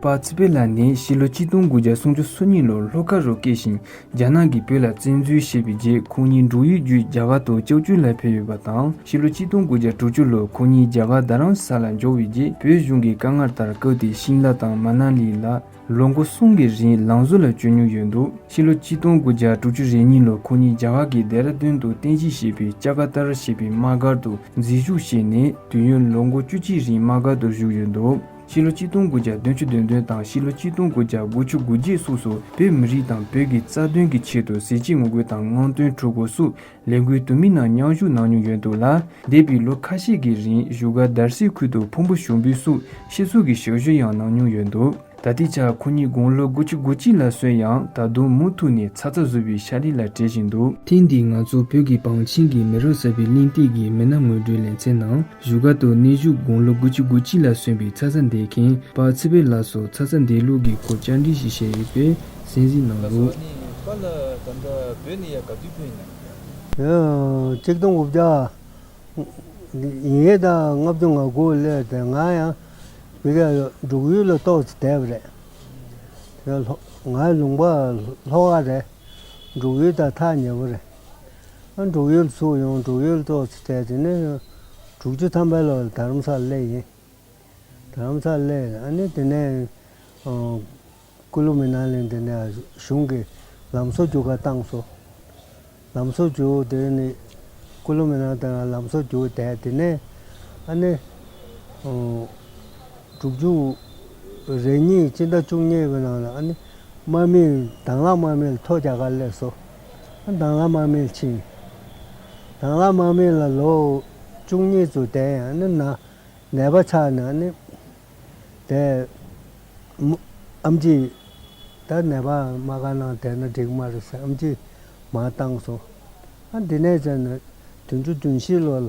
པ་ཚེ་པེ་ལཱ་ནི་ཕྱི་ལོ་གཅིག་སྟོང་དགུ་བརྒྱ་སུམ་ཅུ་སོ་གཉིས་ལོར་ལྷོ་ཁ་རུ་སྐྱེས་ཤིང་རྒྱ་ནག་གིས་བོད་ལ་བཙན་འཛུལ་བྱས་པའི་རྗེས་ཁོང་གཉིས་འབྲུག་ཡུལ་བརྒྱུད་རྒྱ་གར་དུ་ལྕགས་ཀྱུ་ལ་ཕེབས་ཡོད་པ་དང་ཕྱི་ལོ་གཅིག་སྟོང་དགུ་བརྒྱ་དྲུག་ཅུ་ལོར་ཁོང་གཉིས་རྒྱ་གར་རྡ་རམ་ས་ལ་འབྱོར་བའི་རྗེས་བོད་གཞུང་གི་བཀའ་མངགས་ལྟར་ཀིརྟི་དབྱིན་ལཱ་དང་མ་ན་ལི་ལ་ལོ་མགོ་གསུམ་གྱི་རིང་ལང་བཟོ་ལ་སྤྱོད་མྱོང་ཡོད་འདུག་ཕྱི་ལོ་གཅིག་སྟོང་དགུ་བརྒྱ་དྲུག་ཅུ་རེ་གཉིས་ལོར་ཁོང་གཉིས་རྒྱ་གར་གྱི་རྡེ་ར་དུན་དུ་བསྟན་བཤིག་བྱས་པའི་ལྕགས་ཀ་ཏར་ཞེས་པའི་དམག་སྒར་དུ་འཛིན་བཞུགས་བྱས་ནས་དུས་ཡུན་ལོ་མགོ་བཅུ་གཅིག་རིང་དམག་སྒར་དུ་བཞུགས་ཡོད་འདུག། ཕྱི་ལོ་གཅིག་སྟོང་དགུ་བརྒྱ་དོན་བཅུ་དོན་བདུན་དང་ཕྱི་ལོ་གཅིག་སྟོང་དགུ་བརྒྱ་དགུ་བཅུ་དགུ་རྗེས་སོགས་སུ་བོད་མི་རིགས་དང་བོད་ཀྱི་རྩ་དོན་གྱི་ཆེད་དུ་གཟི་བརྗིད་ངོ་རྒོལ་དང་དངངས་སྟོན་གྲུ་གུ་སུ་ལེ་འགུལ་དུ་མི་སྣ་མཉམ་བཞུགས་གནང་མྱོང་ཡོད་འདུག་ལ། འདས་པའི་ལོ་ཁ་ཤས་ཀྱི་རིང་བཞུགས་སྒར་དར་སིའི་ཁུལ་དུ་ཕུང་པོ་ཞུགས་འབུལ་སོགས་ཤེས་ཚོར་གྱི་ཞག་བཞུ་ཡང་གནང་མྱོང་ཡོད་འདུག། ད་ལྟའི་ཆར་ཁོ་གཉིས་དགུང་ལོ་དགུ་བཅུ་དགུ་གཅིག་ལ་སོན་ཡང་ད་དུང་མུ་མཐུད་ནས་ཚ་ཚ་ཟུར་བའི་ཤར་རི་ལ་བྲེལ་བཞིན་འདུག། ཐེངས་འདིའི་ང་ཚོ་བོད་ཀྱི་བང་ཆེན་གྱི་མི་རབས་གསར་པའི་གླེང་སྟེགས་ཀྱི་མི་སྣ་ངོས་འབྲེལ་ལེ་ཚན་ནང། བཞུགས་སྒར་དུ་གནས་བཞུགས་དགུང་ལོ་དགུ་བཅུ་དགུ་གཅིག་ལ་སོན་པའི་ཚ་ཚ་འདས་མཁན་པ་ཚེ་དཔལ་ལགས་སུ་ཚ་ཚ་འདས་ལུགས་ཀྱི་སྐོར་བཅར་འདྲི་ཞིག་བྱས་ཡོད་པའི་གསན་གཟིགས་གནང་ལ་སོགས། གཅིག་སྟོང་དགུ་བརྒྱ་ཉིས་སྟོང་ལྔ་བཅུ་ང་དགུ་ལོའི་ཟླ་ལྔ་ཡང་བོད་རྒྱ་འབྲུག་ཡུལ་ལ་གཏོགས་ཚེ་དད་པ་རེད། ང་ལུང་པ་ལྷོ་ཁ་རེད། འབྲུག་ཡུལ་དང་ཐག་ཉེ་བོ་རེད། འབྲུག་ཡུལ་ཚུགས་ཡོང་འབྲུག་ཡུལ་གཙོ་ཆེ་གྲས་དེ་ནི་དྲུག་ཅུ་ཐམ་པའི་ལོར་དྷ་རམ་ས་ལེ་ཡིན། དྷ་རམ་ས་ལེ་ནི་དེ་ནས་ཀུ་ལུ་མི་ན་ལིན་དེ་ནས་གཞུང་གི་ལམ་བཟོ་རྒྱུག་ཁ་བཏང་སོ། ལམ་བཟོ་རྒྱུག་དེ་ནི་ཀུ་ལུ་མི་ན་དེ་ལ་ལམ་བཟོ་རྒྱུག་དེ་དེ་ནས་ཨ་ནི་དྲུག་ཅུ་རེ་གཉིས་སྤྱི་ཟླ་བཅུ་གཉིས་པའི་ནང་ལ་ཨ་ནི་དམག་མིས་དྭང་བླངས་དམག་མིས་ལ་ཐོ་རྒྱག་ཁ་སླེབས་སོ། དྭངས་བླ་མར་མེད་ཕྱིན། དྭངས་བླ་མར་མེད་ལ་ལོ་བཅུ་གཉིས་སུ་དེ་ཡང་ནི་ནད་པ་ཆགས་ན་ནི། དེ། ཨམ་ཅིག། ད་ནད་པ་མ་ག་ན་དེ་ན་འགྲིག་མ་རེད་ཟེར་ཨམ་ཅིག་མ་བཏང་སོང། ཨ་འདི་ནས་བྱས་ནས་དུས་བཅུ་དུས་བཞི་ལོ་ལ།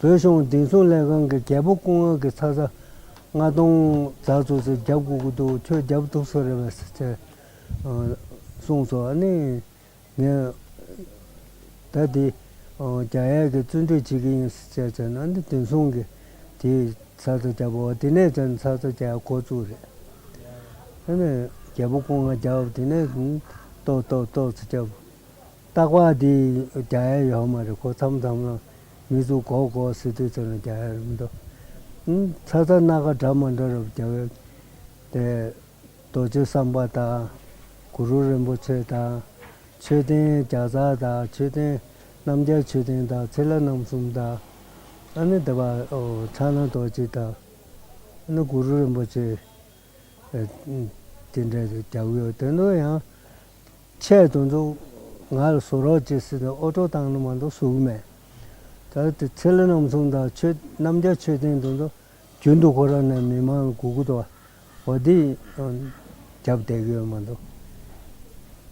བོད་གཞུང་བདེ་སྲུང་ལས་ཁང་གི་རྒྱལ་པོ་སྐུ་ངལ་གྱི་ཚ་ཚ་རྔ་སྟོང་རྫ་ཚོ་ཚོས་རྒྱབ་དགོས་ཀྱི་འདུག་ཁྱོད་རྒྱབ་ཐུབ་ས་རེད་བས་ཟེར། གསུངས་སོ། ཨ་ནི། ངས། ད་དེ། རྒྱ་ཡལ་གྱི་བཙོན་གྲོལ་བྱེད་ཀྱི་ཡིན་ཟེར་བྱས་ན་ཨ་ནི་བདེ་སྲུང་གི་དེས་ཚ་ཚ་རྒྱབ་བོ་དེ་ནས་བྱས་ན་ཚ་ཚ་རྒྱ་ཡལ་འགོ་བཙུགས་རེད། ཨ་ནི། རྒྱལ་པོ་སྐུ་ངལ་རྒྱབ་དེ་ནས། ཏོག་ཏོག་ཏོག་ཚོ་རྒྱབ། སྟག་པ་འདི་རྒྱ་ཡལ་ཡོག་མ་རེད་གོ་མཚམས་མཚམས་ལ་མི་ཚུགས་གོག་གོག་སི་ཏུ་ཚོ་ན་རྒྱ་ཡལ་རེད་མི་འདུག་ཨུན་ཚ་ཚ་སྣ་ཁ་འདྲ་མ་འདྲ་རབ་རྒྱ་བའི་དེ་རྡོ་རྗེ་བསམ་པ་དང་གུ་རུ་རིན་པོ་ཆེ་དང་མཆོད་རྟེན་བརྒྱ་རྩ་དང་མཆོད་རྟེན་རྣམ་རྒྱལ་མཆོད་རྟེན་དང་ཚེ་ལ་རྣམ་གསུམ་དང་ཨ་ནི་འདི་པ་ཚ་ན་རྡོ་རྗེ་དང་ཨ་ནི་གུ་རུ་རིན་པོ་ཆེ་དེ་འདྲ་རྒྱབ་ཡོད་དེ་འདོད་ཡང། ཆད་དུ་འདུག། ང་ལ་བཟོ་རོགས་བྱེད་ཟེར་ནས་ཨོ་ཀྲོ་བཏང་ནི་མ་གཏོགས་ཟུག་གི་མེད། ད་ལྟ་དེ་ཚེ་ལྷ་རྣམ་གསུམ་དང་ཆོས་རྣམ་རྒྱལ་མཆོད་རྟེན་དུ་འདུག་རྒྱུན་དུ་ཁོ་རང་ནས་མི་མང་ལ་གུ་གུ་དོག་བ་འདི་རྒྱབ་བསྡད་ཀྱི་ཡོད་མ་གཏོགས།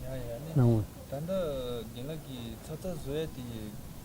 ཡང་ཡང་ནི། ད་ལྟ་རྒན་ལགས་ཀྱིས་ཚ་ཚ་བཟོ་ཡ་དེ་ཡི་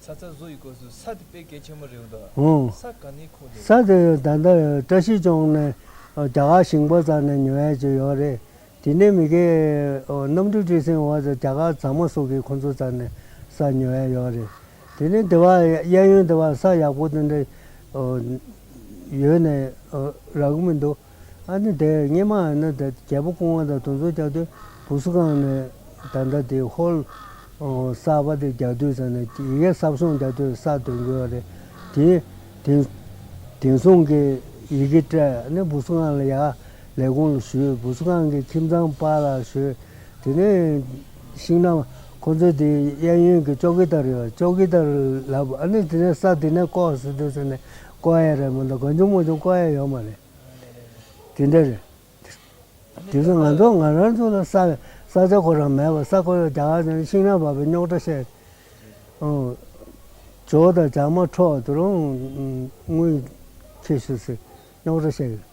ཚ་ཚ་བཟོ་ཡི་གོས་སུ་ས་དེ་དཔེ་གལ་ཆེན་མོ་རེད་འདུག་ས་ག་ནས་ཁུག་འདུག། ས་དེ་ད་ལྟ་བཀྲ་ཤིས་ལྗོངས་ནས་རྒྱ་གར་ཞིང་པ་ཙམ་ནས་ཉོ་ཡ་ཅི་ཡོད་རེད། དེ་ནས་མི་གེ་གནམ་གྲུ་བཀྲིས་སེང་འོག་ཏུ་རྒྱ་གར་མཛངས་མ་སོགས་ཀྱིས་ཁོ་ཚོ་ཙམ་ནས་ས་ཉོ་ཡ་ཡོད་རེད། དེ་ནས་དེ་བ་གཡས་གཡོན་དེ་བ་ས་ཡག་པོ་དེ་འདྲ་ཡོད་ནས་རག་གི་མི་འདུག། ཨ་ནི་དེ་སྙེ་མ་ཨ་ནི་དེ་རྒྱལ་པོ་སྐུང་བ་དང་དུང་ཚོད་རྒྱག་དུས་བུ་སུ་གང་ནི་ད་ལྟ་དེ་ཧོལ། གསར་པ་དེ་རྒྱག་དུས་ཚང་ནི་ཡི་གེ་གསར་བཟུང་རྒྱག་དུས་གསར་འདོན་དགོས་བ་རེད། དེ་དེང་དེང་བཟུང་གི་ཡི་གེ་སྤྲད་ནི་བུ་སུ་གང་ལ་ཡག་ལས་གོང་ལ་ཞུས་བུ་སུ་གང་གི་ཁྱིམ་ཚང་པ་ལ་ཞུས། དེ་ནས་ཤིང་ནམ་ཁོང་ཚོའི་དེ་གཡས་གཡོན་གི་ཅོག་གི་ལྟར་ཡོད་ཅོག་གི་ལྟར་ལབ་ཨ་ནི་དེ་ནས་གསར་དེ་ནས་བཀོག་ཟེར་དུས་ཚང་ནི། ཀོ་ཨེ་རེད་མོ་འདི་དགོད་འཇུག་མོ་འཇུག་ཀོ་ཨེ་ཡོད་མ་རེད། དེ་འདྲ་རེད། དེ་བཞིན་ང་ཚོ་ང་རང་ཚོ་ལ་ས་ས་ཆ་ཁོ་རང་མེད་པར་ས་ཁོ་ཡོད་རྒྱ་གར་ནས་ཤིང་ར་བབས་པའི་རྙོག་དྲ་བཤད། ཇོ་དང་ཇག་མ་འཕྲོག་དེ་རུང་དངུལ་ཁྱེར་ཞུ་ཟེར་རྙོག་དྲ་བཤད།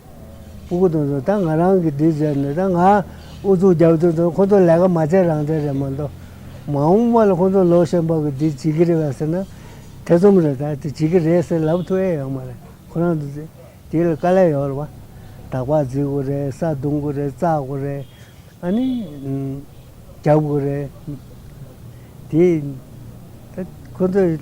ཨོ་ཁོ་དང་ཟེར་ད་ང་རང་གིས་འདི་བྱས་ནས་ད་ང་ཨུ་ཚུགས་རྒྱབ་དུས་དང་ཁོ་ཚོ་ལས་ཀ་མ་བྱས་རང་བྱས་རེད་མ་གཏོགས་མ་འོངས་པ་ལ་ཁོ་ཚོ་ལོ་གཞན་པ་གི་འདི་བྱེད་ཀྱི་རེད་བ་ཟེར་ན་ཐེ་ཚོམ་རེད་ད་དེ་བྱེད་ཀྱི་རེད་ཟེར་ལབ་ཐུབ་ཨེ་ཡོད་མ་རེད་ཁོ་རང་དུ་ཟེར་དེ་ལ་དཀའ་ལས་ཡོད་རེད་བ། དག་པ་བརྫི་དགོས་རེད་ས་རྡུང་དགོས་རེད་བཙག་དགོས་རེད་ཨ་ནི། རྒྱབ་དགོས་རེད་དེ། ད་ཁོ་ཚོས།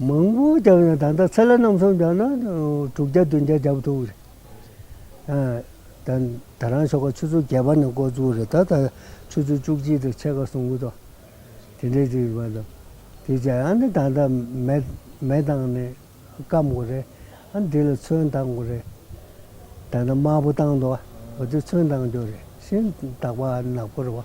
མང་པོ་བརྒྱབ་ན་ད་ལྟ་ཚེ་ལ་རྣམ་གསུམ་བརྒྱབ་ན་དྲུག་བརྒྱ་བདུན་བརྒྱ་བརྒྱབ་ཐུབ་རེད། ད་རང་ཤོག་ཁ་ཆུ་ཚོད་བརྒྱད་པ་ནས་འགོ་བཙུགས་རེད་ད་ད་ཆུ་ཚོད་བཅུ་གཅིག་དང་ཕྱེད་ཀ་སོང་གི་འདུག་དེ་འདྲའི་རིགས་པ་དང་དེ་བྱས་ཨ་ནི་ད་ལྟ་མེ་མེ་བཏང་ནས་སྐམ་དགོས་རེད་ཨ་ནི་དེ་ལ་ཚོན་བཏང་དགོས་རེད། ད་ལྟ་དམར་པོ་བཏང་འདུག་ཨ་དེ་ཚོན་བཏང་རྒྱུ་རེད་ཤིན་ཏུ་དག་པ་ནག་པོ་རེད་བ།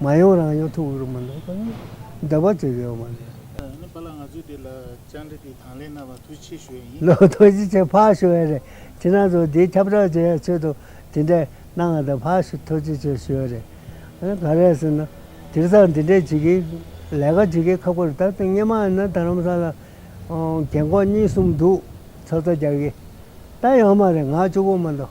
མ་ཡོང་རང་ཡོང་ཐུག་རུ་མི་འདུག་པ་ནི་འདོད་པ་ཅིག་ཡོད་མ་རེད། ནི་པ་ལགས་ང་ཚོས་དེ་ལ་བཅར་འདྲི་དེ་དང་ལེན་གནང་བར་ཐུགས་ཆེ་ཞུ་ཡ་ཡིན། ལོ་ཐོ་ཅི་ཆེ་ཕག་ཞུ་ཡ་རེད་ཅི་ན་ཚོ་དེའི་ཁྱབ་བསྒྲགས་བྱེད་ཡ་ཆོད་དོ་དེ་འདྲས་གནང་ང་དང་ཕག་ཞུ་ཐོ་ཅི་ཆེ་ཞུ་ཡ་རེད་ཨ་ག་རེད་ཟེར་ན་དེར་ཚང་དེ་འདྲས་བྱེད་ཀི་ལས་ཀ་བྱེད་ཀི་ཁག་པོ་རེད་ད་ལྟ་སྔས་མ་ཡིན་ན་དར་རམ་ས་ལ་རྒན་འཁོག་གཉིས་གསུམ་འདུག་ཚོ་ཚོ་རྒྱག་ཀི་ད་ཡོང་མ་རེད་ང་བཅུ་པོ་མི་འདུག།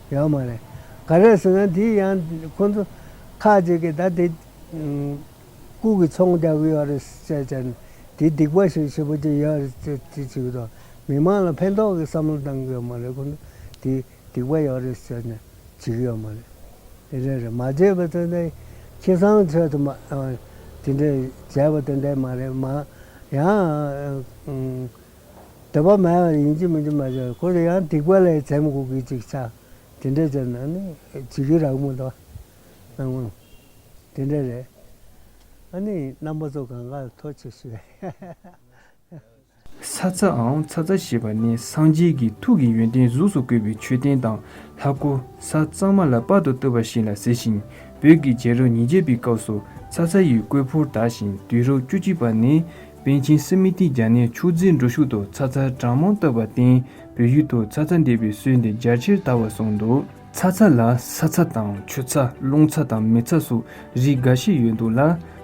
ཡོད་མ་རེད། ག་རེ་ཟེར་ན་དེ་ཡང་ཁོ་ཚོ་ཁ་ཅིག་གིས་ད་དེ་ལྐུགས་ཀྱི་ཚོང་རྒྱག་གི་ཡོད་རེད་ཅེས་བྱས་ནས་དེ་སྡིག་པ་ཞིག་བྱེད་པོ་ཅིག་ཡོད་རེད་ཅེས་དེ་བྱེད་ཀྱི་འདུག་མི་མང་ལ་ཕན་ཐོགས་ཀྱི་བསམ་བློ་བཏང་གི་ཡོད་མ་རེད་ཁོ་ཚོ་དེ་སྡིག་པ་ཡོད་རེད་ཟེར་ནས་བྱེད་ཀྱི་ཡོད་མ་རེད། དེ་འདྲས་རེད་མ་བྱས་པ་དེ་འདྲས་ཁྱི་སང་ཆོས་དུ་མ་དེ་འདྲས་བྱས་པ་དེ་འདྲས་མ་རེད་མ་ཡང་དད་པ་མེད་པར་ཡིན་གྱི་མིན་གྱི་མ་བྱ་བར་ཁོ་རེ་ཡང་སྡིག་པ་ལས་བྱེད་མི་དགོས་གི་ཅིག་ཆ་དེ་འདྲས་ཀྱི་ནང་ནས་བྱེད་ཀྱི་རག་མོད་དོ། སྣང་ངོ། དེ་འདྲས་རེད། ཨ་ནི་རྣམ་པ་ཚོ་གང་གར་ཐོ་ཆེ་ཤོས་རེད། ཚ་ཚའང་ཚ་ཚ་ཞེས་པ་ནི་སངས་རྒྱས་ཀྱི་ཐུགས་ཀྱི་ཡོན་ཏན་གཟུགས་སུ་བཀོད་པའི་མཆོད་རྟེན་དང་ལྷ་སྐུ་ས་གཙང་མ་ལ་དཔག་ཏུ་བཏུབ་པ་བཞིན་ལ་ཟེར་ཞིང་བོད་ཀྱི་རྗེ་རབས་ཉིས་བརྒྱད་པའི་སྐབས་སུ་ཚ་ཚ་ཡི་བརྐོས་ཕུར་དག་ཞིང་དུས་རབས་བཅུ་གཅིག་པ་ནས་པཎ་ཆེན་སི་མི་ཏི་རྒྱ་ནག་ཕྱུགས་རྫི་འགྲོ་ཤུགས་ཐོག་ཚ་ཚ་གྲང་མོ་བཏབ་པར་བརྟེན་བོད་ཡུལ་དུ་ཚ་ཚ་འདེབས་པའི་སྲོལ་འདི་རྒྱ་ཆེར་དར་བར་སོང་འདུག། ཚ་ཚ་ལ་ས་ཚ་དང་ཆུ་ཚ་རླུང་ཚ་དང་མེ་ཚ་སོགས་རིགས་འགའ་ཤས་ཡོད་འདུག་ལ་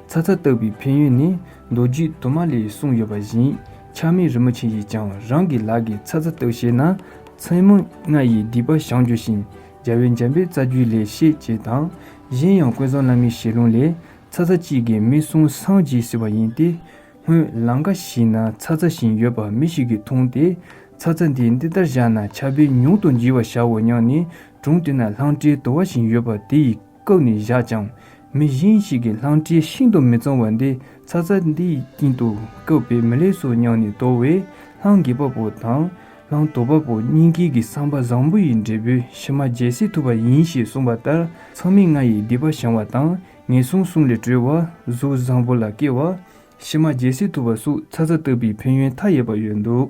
ཚ་ཚ་བཏབ་པའི་ཕན་ཡོན་ནི་མདོ་རྒྱུད་དུ་མ་ལས་གསུངས་ཡོད་པ་བཞིན་ཆགས་མེད་རིན་པོ་ཆེ་ཡིས་ཀྱང་རང་གི་ལག་གིས་ཚ་ཚ་བཏབ་ཤེས་ན་མཚན་མོ་ལྔ་ཡི་སྡིག་པ་བྱང་རྒྱུ་ཞིང་རྒྱལ་བའི་འཇམ་པའི་རྩ་རྒྱུད་ལས་ཤེས་ཅེས་དང་གཞན་ཡང་ཀུན་བཟང་བླ་མའི་ཞལ་ལུང་ལས། ཚ་ཚ་གཅིག་གིས་མི་སྲུང་སྲང་གཅིག་ཟེར་བ་ཡིན་ཏེ། སྔོན་ལང་ཀ་ཞིག་ན་ཚ་ཚ་བཞིན་ཡོད་པ་མི་ཞིག་གིས་མཐོང་སྟེ། ཚ་ཚ་འདི་འདི་ལྟར་བཞག་ན་ཆ་བེ་ཉུང་དུ་འགྱིལ་བ་བཞག་འོ་སྙམ་ནས་སྒྲུང་དེ་ན་ལྷང་སྤྲེའི་དོ་བ་བཞིན་ཡོད་པ་དེ་ཡིས་བཀབ་ནས་བཞག་ཅིང། མི་གཞན་ཞིག་གིས་ལྷང་སྤྲེའི་ཤིན་ཏུ་མི་གཙང་བ་འདི་ཚ་ཚ་འདིས་ཀྱིན་དུ་བཀབ་པས་མི་ལེགས་སོ་སྙམ་ནས་དོ་བས་ལྷང་གི་པ་པོ་དང། ནང་དུ་དཔའ་བོ་སྙིང་དཀྱིལ་གྱི་གསང་བ་བཟང་པོ་ཡི་འབྲས་བུའི་གཞི་མ་རྒྱལ་སྲིད་ཐུབ་པ་ཡིན་ཞེས་གསུངས་པ་ལྟར་ཚང་མིང་ལྔ་ཡི་སྡིག་པ་བྱང་བ་དང་ངན་སོང་གསུམ་ལས་གྲོལ་བ་གཟུགས་བཟང་པོ་ལ་སྐྱེ་བ། གཞི་མ་རྒྱལ་སྲིད་ཐུབ་པ་སུག་ཚ་ཚ་བཏབ་པའི་ཕན་ཡོན་མཐའ་ཡས་པ་ཡོད་འདུག།